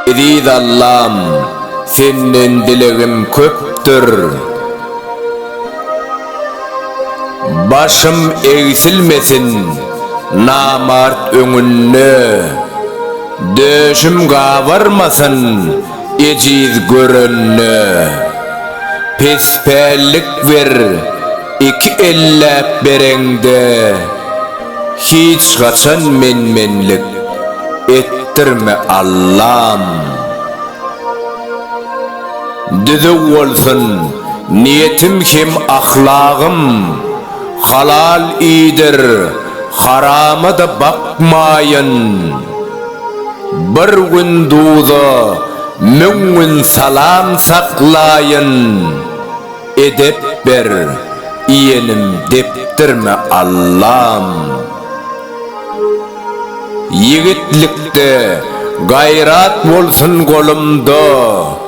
Eziz Allam, Senden dilegim köpdür. Başym egsilmesin namart öňünde, döşüm gabarmasyn, Ejiz görende, pespällik ber Iki elläp bereňde, hiç haçan men-menlik etdirme Allam. Düzüw bolsun niýetim hem ahlagym, Halal iýdir, harama-da bakmaýyn. Bir gün duza, müň gün salam saklaýyn. Edep ber, iýenim depdirme Allam. Ýigitlikde gaýrat bolsun golumda.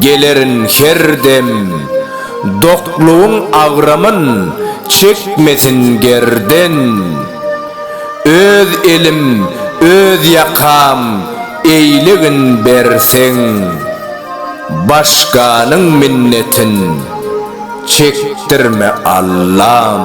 Gelerin her dem doklugyň agramyn çekmesin gerden Öz elim öz ýakam eýlegin berseň Başganyň minnetin çekdirme Allam.